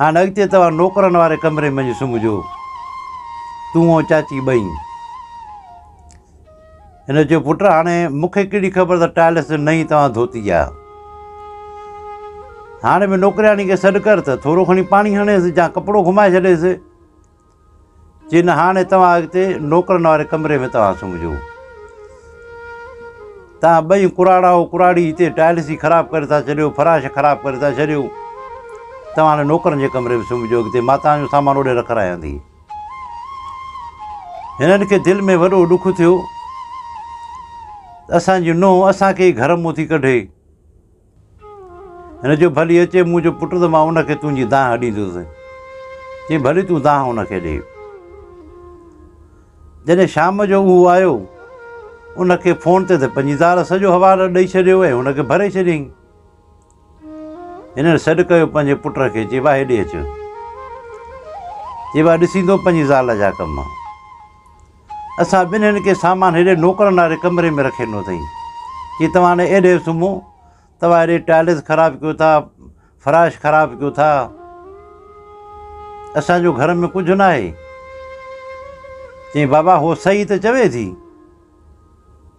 هاڻ اڳتي توهان نوڪرن واري ڪمري منجهه سمهجو، تون ۽ چاچي ٻئي. هن چيو، پٽ هاڻي مون کي ڪهڙي خبر ته ٽائلس جو نئين توهان ڌوتي آ. هاڻي به نوڪرياڻي کي سڏ ڪر ته ٿورو کڻي پاڻي هڻيس يا ڪپڙو گهمائي ڇڏيس. چي نه هاڻي توهان اڳتي نوڪرن واري ڪمري ۾ توهان سمجهو توهان ٻئي ڪراڙا ڪراڙي هتي ٽائلس جي خراب ڪري ٿا ڇڏيو فراش خراب ڪري ٿا ڇڏيو توهان هاڻي نوڪرن جي ڪمري ۾ سمجهو اڳتي ماء توهان جو سامان اوڏي رکرائيندي هنن کي دل ۾ وڏو ڏک ٿيو اسانجي نوهه اسانکي گهر مون ٿي ڪڍي هن چيو، ڀلي اچي منهنجو پٽ ته مان ان کي تنهنجي دانهن ڏيندس. چيائين، ڀلي تون دانهن ان کي ڏي. جڏهن شام جو اهو آيو، ان کي فون تي ته پنهنجي زال سڄو حوالو ڏئي ڇڏيو ۽ هن کي ڀري ڇڏيائين. هنن سڏ ڪيو پنهنجي پٽ کي، چيو، آء هيڏي اچ. چيو، آء ڏسيندو پنهنجي زال جا ڪم. اسان ٻنهين کي سامان هيڏي نوڪرن واري ڪمري ۾ رکي ڏنو اٿئي. چي توهان هاڻي ايڏي سمهو. توهان هيڏي ٽائلس خراب ڪيو ٿا، فراش خراب ڪيو ٿا. اسان جو گهر ۾ ڪجهه ناهي. چيائين بابا هوء صحيح ته چوي ٿي.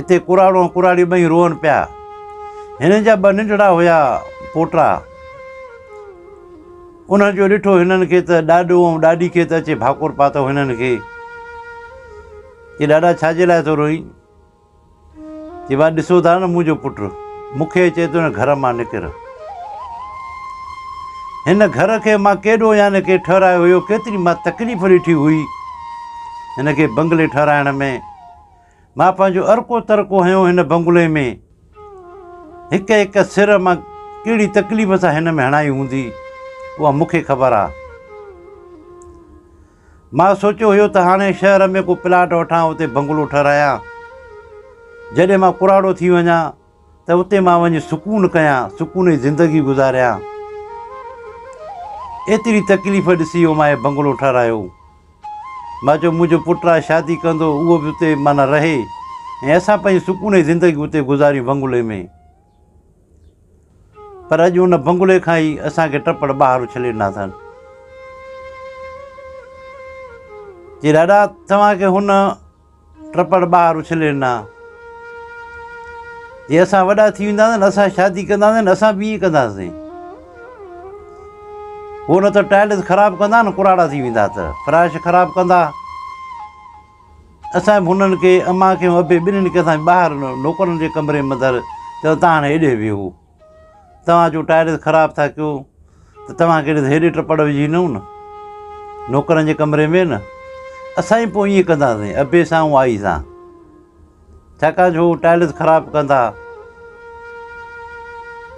اتي ڪراڙو ۽ ڪراڙي ٻئي روئن پيا. هنن جا ٻه ننڍڙا هيا پوٽا. انهن جو ڏٺو هنن کي ته ڏاڏو ۽ ڏاڏي کي ته اچي ڀاڪور پاتو هنن کي. چي ڏاڏا ڇا جي لاء ٿو روئين؟ چي وا ڏسو ٿا نه منهنجو پٽ مون کي چي ٿو نه گهر مان نڪر. هن گهر کي مان ڪيڏو يعني ڪي ٺهرايو هيو، ڪيتري مان تڪليف ڏٺي هئي هن کي بنگلي ٺهرائڻ ۾. مان پنهنجو ارڪو ترڪو هنيو هن بنگلي ۾. هڪ هڪ سر مان ڪهڙي تڪليف سان هن ۾ هڻائي هوندي، اها مون کي خبر آ. مان سوچيو هيو ته هاڻي شهر ۾ ڪو پلاٽ وٺان اتي بنگلو ٺهرايان. جڏهن مان ڪراڙو ٿي وڃان ته اتي مان وڃي سڪون ڪيان، سڪوني زندگي گذاريان. ايتري تڪليف ڏسي اوماهي بنگلو ٺهرايو. مان چيو منهنجو پٽ آ شادي ڪندو اهو به اتي معنيٰ رهي ۽ اسان پنهنجي سڪوني زندگي اتي گذاريون بنگلي ۾. پر اڄ ان بنگلي کان ئي اسان کي ٽپڙ ٻاهر اڇلي ڏنا اٿن. چي ڏاڏا توهان کي هن ٽپڙ ٻاهر اڇلي ڏنا. جي اسان وڏا ٿي وينداسين، اسان شادي ڪنداسين، اسان به ائين ڪنداسين. هو نه ته ٽائلس خراب ڪندا نه ڪراڙا ٿي ويندا ته فراش خراب ڪندا. اسان به هنن کي امان کي ابي ٻنهي کي اسان ٻاهر نوڪرن جي ڪمري ۾ اندر چيو تان هاڻي هيڏي ويهو. توهان جو ٽائرز خراب ٿا ڪيو ته توهان کي هيڏي ٽپڙ وجهي نئون نه نوڪرن جي ڪمري ۾ نه اسان ئي پوء ائين ڪنداسين ابي سان ۽ آئي سان ڇاڪاڻ جو ٽائلز خراب ڪندا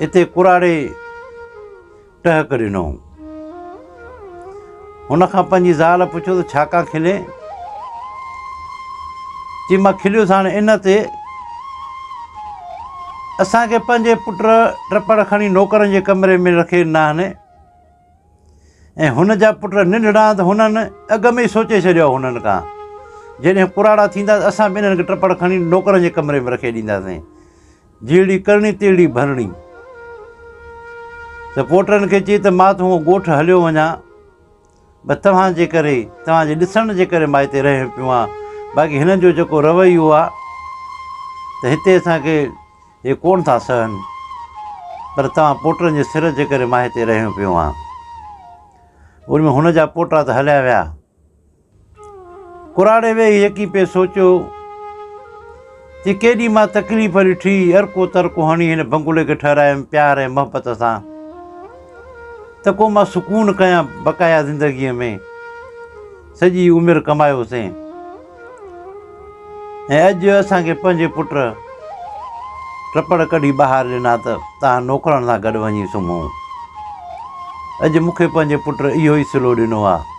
اتي ڪراڙي ٽهڪ ڏنو. هن کان پنهنجي زال پڇيو ته ڇا ڪا کلين؟ چي مان کليس هاڻ ان تي اسان کي پنهنجي پٽ ٽپڙ کڻي نوڪرن جي ڪمري ۾ رکي ناهني ۽ هن جا پٽ ننڍڙا ته هنن اڳ ۾ ئي سوچي ڇڏيو هنن ڪا جڏهن پراڙا ٿيندا ته اسان به انهن کي ٽپڙ کڻي نوڪرن جي ڪمري ۾ رکي ڏينداسين جهڙي ڪرڻي تهڙي ڀرڻي. رپورٽرن کي چئي ته مان تون ڳوٺ هليو وڃان بس توهان جي ڪري توهان جي ڏسڻ جي ڪري مان هتي رهيو پيو آهيان باقي هنن جو جيڪو رويو آهي ته هتي اسان کي هي ڪونه ٿا سهن پر توهان پوٽرن جي سر جي ڪري مان هتي رهيو پيو آهيان ان ۾ هن جا پوٽا ته هليا ويا ڪراڙي ويهي هڪي پئي سوچيو ته ڪيڏي مان تڪليف ڏٺي، ارڪو ترڪو هڻي هن بنگلي کي ٺهرايم پيار ۽ محبت سان ته ڪو مان سڪون ڪيان بقايا زندگيء ۾ سڄي عمر ڪمايوسين ۽ اڄ اسان کي پنهنجي پٽ ٽپڙ ڪڍي ٻاهر ڏنا ته تان نوڪرن سان گڏ وڃي سمهون اڄ مون کي پنهنجي پٽ اهو ئي سلو ڏنو آهي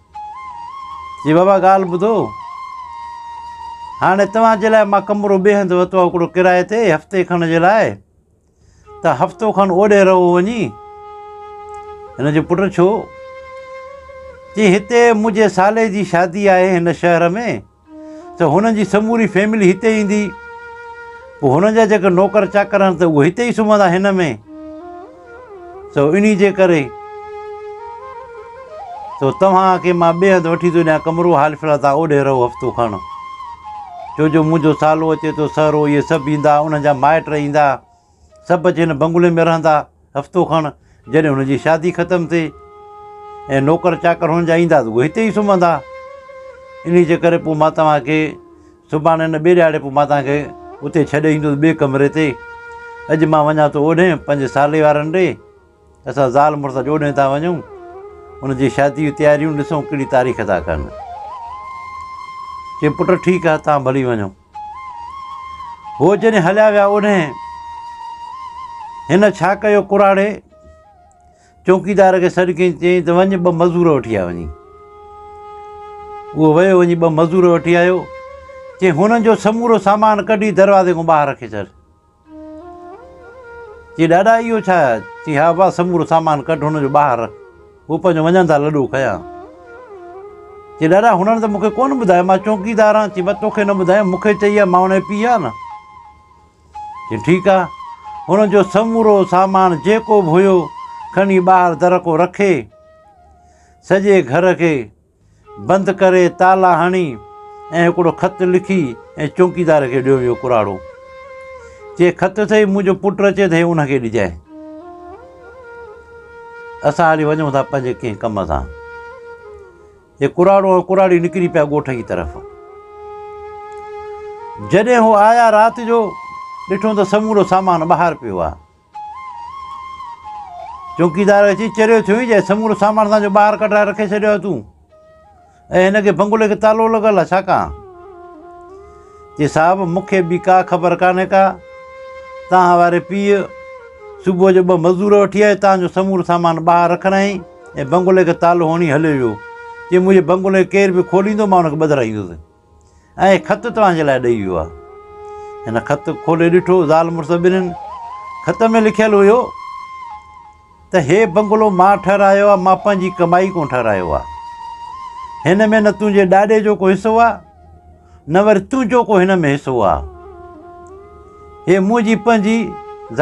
جي بابا ڳالهه ٻڌو، هاڻي توهان جي لاء مان ڪمرو ٻئي هنڌ ورتو آهي هڪڙو ڪرائي تي هفتي کڻ جي لاء، ته هفتو کن اوڏي رهو وڃي. هن جو پٽ ڇو؟ چي هتي منهنجي سالي جي شادي آهي هن شهر ۾. ته هنن جي سموري فيملي هتي ايندي. پوء هنن جا جيڪي نوڪر چاڪر آهن ته اهي هتي ئي سمهندا هن ۾. سو انهي جي ڪري سو توهان کي مان ٻئي هنڌ وٺي ٿو ڏيان ڪمرو، حال فلحال توهان اوڏي رهو هفتو کڻ. ڇو جو منهنجو سالو اچي ٿو، سهرو، اهي سڀ ايندا، انهن جا مائٽ ايندا. سڀ جنھن بنگلي ۾ رھندا ھفتو کڻ جڏھن ھن جي شادي ختم ٿي ۽ نوڪر چاڪر ھن جا ايندا ته اھي ھتي ئي سمھندا انھي جي ڪري پوء مان توھان کي سڀاڻي نه ٻي ڏھاڙي پوء مان توھان کي اتي ڇڏي ايندس ٻي ڪمري تي اڄ مان وڃان ٿو اوڏھي پنھنجي سالي وارن ڏي اسان زال مڙس اڄ اوڏھي ٿا وڃون ان جي شادي جون تياريون ڏسون ڪھڙي تاريخ ٿا ڪن چي پٽ ٺيڪ آھي تھان ڀلي وڃو هو جڏهن هليا ويا اوڏهن هن ڇا ڪيو ڪراڙي چوڪيدار کي سڏ ڪيائين چيائين ته وڃ ٻه مزور وٺي آ وڃي اهو ويو وڃي ٻه مزور وٺي آيو چيائين هنن جو سمورو سامان ڪڍي دروازي کان ٻاهر رکي ڇڏ چي ڏاڏا اهو ڇا؟ چي ها ابا سمورو سامان ڪڍ هن جو ٻاهر رک هو پنهنجو وڃڻ ٿا لڏو کنيان. چي ڏاڏا هنن ته مون کي ڪونه ٻڌايو مان چونڪيدار آهيان چي بس توکي نه ٻڌايم مون کي چئي آ مان انهي پيئي آ نه. چي ٺيڪ آ هن جو سمورو سامان جيڪو به هيو کڻي ٻاهر درڪو رکي سڄي گهر کي بند ڪري تالا هڻي ۽ هڪڙو خط لکي ۽ چونڪيدار کي ڏيو اهو ڪراڙو چي خط ٿئي منهنجو پٽ اچي ته ان کي ڏجانء اسان هلي وڃون ٿا پنهنجي ڪنهن ڪم سان هي ڪراڙو ۽ ڪراڙي نڪري پيا ڳوٺ جي طرف جڏهن هو آيا رات جو ڏٺو ته سمورو سامان ٻاهر پيو آ چوڪيدار اچي چريو ٿيو هين جنهن سمورو سامان اسان جو ٻاهر ڪڍرائي رکي ڇڏيو آهي تون ۽ هن کي بنگلي کي تالو لڳل آهي ڇا ڪان چي صاحب مون کي به ڪا خبر ڪانهي ڪا تان واري پيء صبح جو ٻه مزدور وٺي آيو تان جو سمورو سامان ٻاهر رکرائين ۽ بنگلي کي تالو هڻي هليو ويو چي منهنجي بنگلي کي ڪير به کوليندو مان هن کي ٻڌرائيندس ۽ هي خط توهان جي لاء ڏئي ويو آهي. هن خط کولي ڏٺو. زال مڙس ٻنهين خط ۾ لکيل هيو ته هي بنگلو مان ٺهرايو آهي، مان پنهنجي ڪمائي ڪون ٺهرايو آهي. هن ۾ نه تنهنجي ڏاڏي جو ڪو حصو آهي، نه وري تنهنجو ڪو هن ۾ حصو آهي. هي منهنجي پنهنجي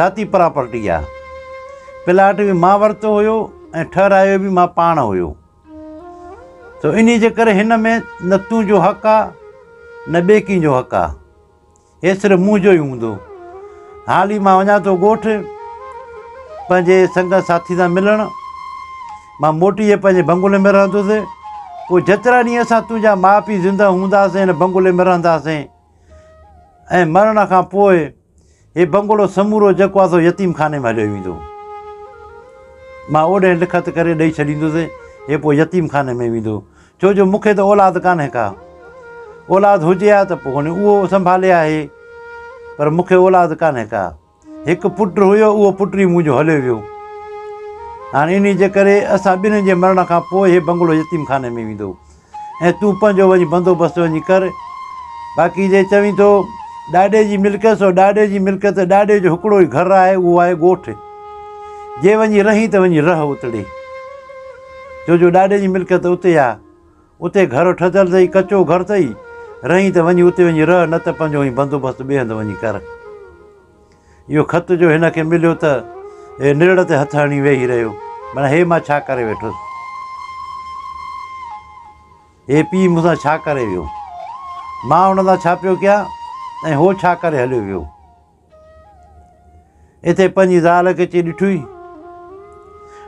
ذاتي پراپرٽي آهي. پلاٽ به مان ورتو هيو ۽ ٺهرايو به مان پاڻ هيو. سو انهيء جي ڪري هن ۾ نه تون جو حق آ نه ٻئي ڪنهن جو حق آ. هي صرف مون جو ئي هوندو. هال ئي مان وڃان ٿو ڳوٺ پنهنجي سنگت ساٿين سان ملڻ. مان موٽي جي پنهنجي بنگلي ۾ رهندس. پوء جيترا ڏينهن اسان تنهنجا ماء پيء زنده هونداسين هن بنگلي ۾ رهنداسين ۽ مرڻ کان پوء هي بنگلو سمورو جيڪو آهي سو يتيم خاني ۾ هليو ويندو. مان اوڏهين لکت ڪري ڏئي ڇڏيندس. هي پوء يتيم خاني ۾ ويندو. ڇو جو مون کي ته اولاد ڪانهي ڪا. اولاد هجي ها ته پوء اهو سنڀالي ها هي. پر مون کي اولاد ڪانهي ڪا. هڪ پٽ هيو اهو پٽ ئي منهنجو هليو ويو. هاڻي انهيء جي ڪري اسان ٻنهين جي مرڻ کان پوء هي بنگلو يتيم خاني ۾ ويندو. ۽ تون پنهنجو وڃي بندوبست وڃي ڪر. باقي جي چوين ٿو ڏاڏي جي ملڪيت سو ڏاڏي جي ملڪيت، ڏاڏي جو هڪڙو ئي گهر آهي اهو آهي ڳوٺ. جي وڃي رهين ته وڃي رهه اتڙي. ڇو جو ڏاڏي جي ملڪيت اتي آ. اتي گهر ٺهتل اٿئي، ڪچو گهر اٿئي. رهين ته وڃي اتي وڃي رهه نه ته پنهنجو وڃي بندوبست ٻئي هنڌ وڃي ڪر. اهو خط جو هن کي مليو ته هي نرڙ تي هٿ هڻي ويهي رهيو. معنيٰ هي مان ڇا ڪري ويٺس؟ هي پيء مون سان ڇا ڪري ويو؟ مان هن سان ڇا پيو ڪيان ۽ هو ڇا ڪري هليو ويو؟ اتي پنهنجي زال کي اچي ڏٺوئي؟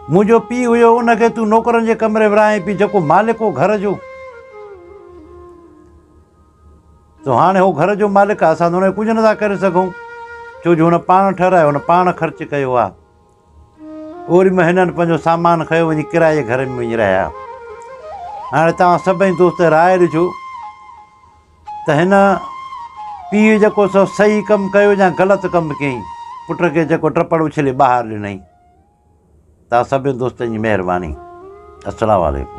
منهنجو پيء هيو ان کي تون نوڪرن جي ڪمري ورهائين پئي جيڪو مالڪ هو گهر جو. سو هاڻي هو گهر جو مالڪ آهي، اسان ته هن کي ڪجهه نٿا ڪري سگهون، ڇو جو هن پاڻ ٺهرايو، هن پاڻ خرچ ڪيو آهي. اوري ۾ هنن پنهنجو سامان کنيو وڃي ڪرايي جي گهر ۾ وڃي رهيا. هاڻي توهان سڀئي دوست راء ڏجو ته هن پيء جيڪو سو صحيح ڪم ڪيو يا غلط ڪم ڪيائين، پٽ کي جيڪو ٽپڙ اڇلي ٻاهر ڏنائين. توهان سڀئي دوستن جي مهرباني. السلام عليڪم.